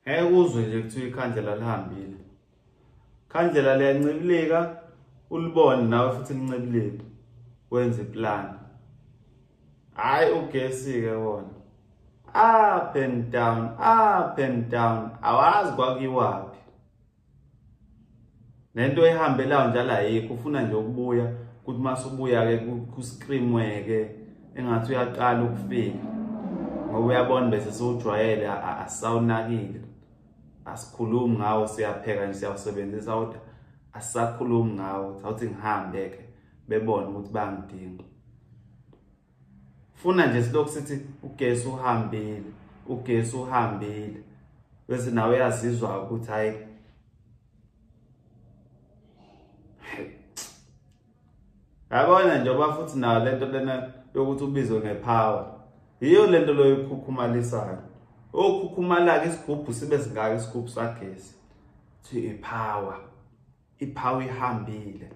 ngeke uzwe nje kuthiwa ikhandlela lihambile khandlela liyancibilika ulibone nawe futhi lincibilika wenze iplani hhayi ugesi-ke wona up and down up and down awazi kwakuyiwaphi nento ehambelayo njalo ayikho ufuna nje ukubuya ukuthi uma subuya-ke kuscreamwe-ke engathi uyaqala ukufika ngoba uyabona bese siwujwayele asawunakile asikhulumi ngawo siyapheka nje siyawusebenzisa kodwa asisakhulumi ngawo sawuthi ngihambe-ke bebone ukuthi bangidinga funa nje silokhu sithi ugesi uhambile ugesi uhambile bese nawe uyazizwa ukuthi hayi yabona nje oba futhi nayo le nto lena yokuthi ubizwe ngepower yiyo le nto loyo ukhukhumalisayo okhukhumala-ke isigubhu sibe singaka isigubhu sagesi kuthiwa ipower ipower ihambile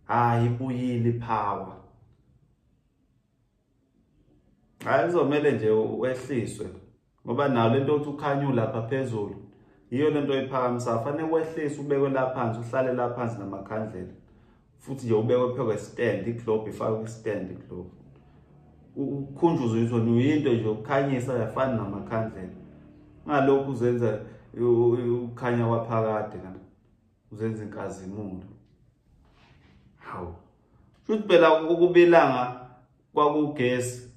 hayi ibuyile power hayi kuzomele nje wehliswe ngoba nayo lento othi ukhanyu lapha phezulu yiyo lento oyiphakamisa fanele wehlise ubekwe la phansi uhlale la phansi namakhandlela futhi nje ubekwe phezu kwestand iglobe ifakwe kwistand iglobe ukhunjuzwe ukuthi wena uyinto nje ukukhanyisa yafana namakhandlela ngalokhu uzenza ukhanya kwaphakade kanti uzenza inkazimulo hawu futhi phela ukubelanga kwakugesi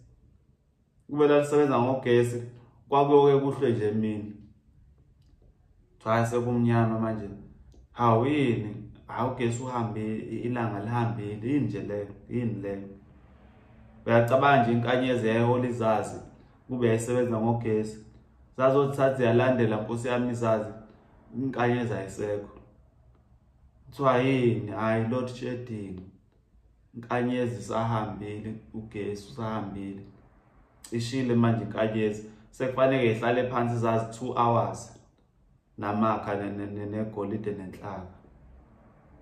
kubela lisebenza ngogesi kwakuyoke kuhlwe nje emini cha sekumnyama manje hawu yini hawu ugesi uhambe ilanga lihambile yini nje leyo yini leyo uyacabanga nje inkanyezi yayihola izazi kube yayisebenza ngogesi zazothi sathi yalandela nkosi yami sazi inkanyezi ayisekho kuthiwa yini hayi lord shedding inkanyezi sahambile ugesi usahambile cishile manje inkanyezi sekufanele ihlale phansi zazi 2 hours namakha negolide nenhlaka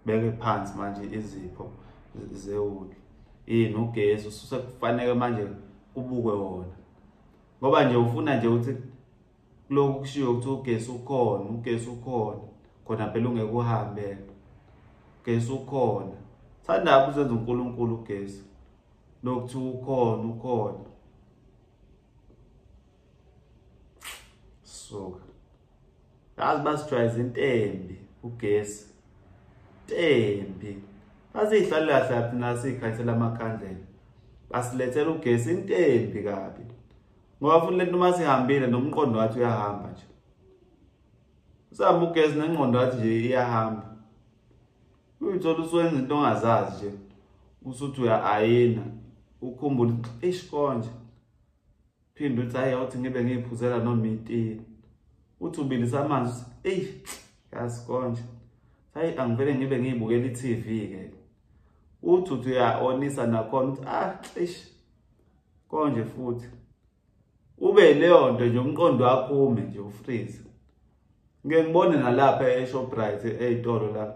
beke phansi manje izipho zewuli yini ugesi usekufanele manje kubukwe wona ngoba nje ufuna nje ukuthi lokhu kushiwo ukuthi ugesi ukhona ugesi ukhona khona phela ungeke uhambe ugesi ukhona thanda apho uzenza uNkulunkulu ugesi lokuthiwa ukhona ukhona suka yazi basijwayeza intembi ugesi intembi basiyihlalelahla laphi nasiyikhanyisela amakhandlela basilethela ugesi intembi kabi ngoba futhi lento uma sihambile nomqondo wathi uyahamba nje usihamba ugesi nengqondo wathi nje iyahamba uyithola usuwenza into ongazazi nje usuthi uya-ayina ukhumbule eish konje Phinde uthi hayi awuthi ngibe ngiyiphuzela noma itini. Uthi ubilisa amanzi eyi yazi konje. Hayi angivele ngibe ngiyibukela i-TV ke. Uthi uthi uyaonisa nakhona uthi ah eish konje futhi. Ube leyo nto nje umqondo wakho ume nje ufreeze. Ngeke ngibone nalapha eShoprite eyitolo la.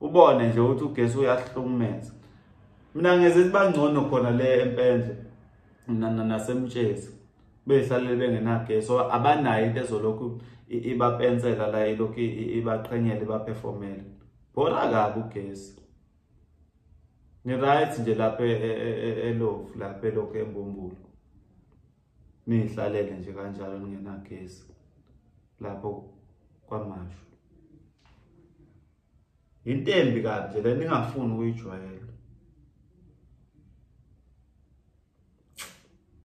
ubone nje ukuthi ugesi uyahlukumeza mina ngeze sibangcono khona le empendle nasemtshezi behlalele bengenagesi or abanayo into ezolokhu ibapensela la ilokhu ibaqhenyela ibaperformele bhora kabi ugesi ngi-right nje lapha e, e, e, elovu lapha elokhu embumbulo niyihlalele nje kanjalo ningenagesi lapho kwamashu yinto embi kabi nje le ningafuni ukuyijwayela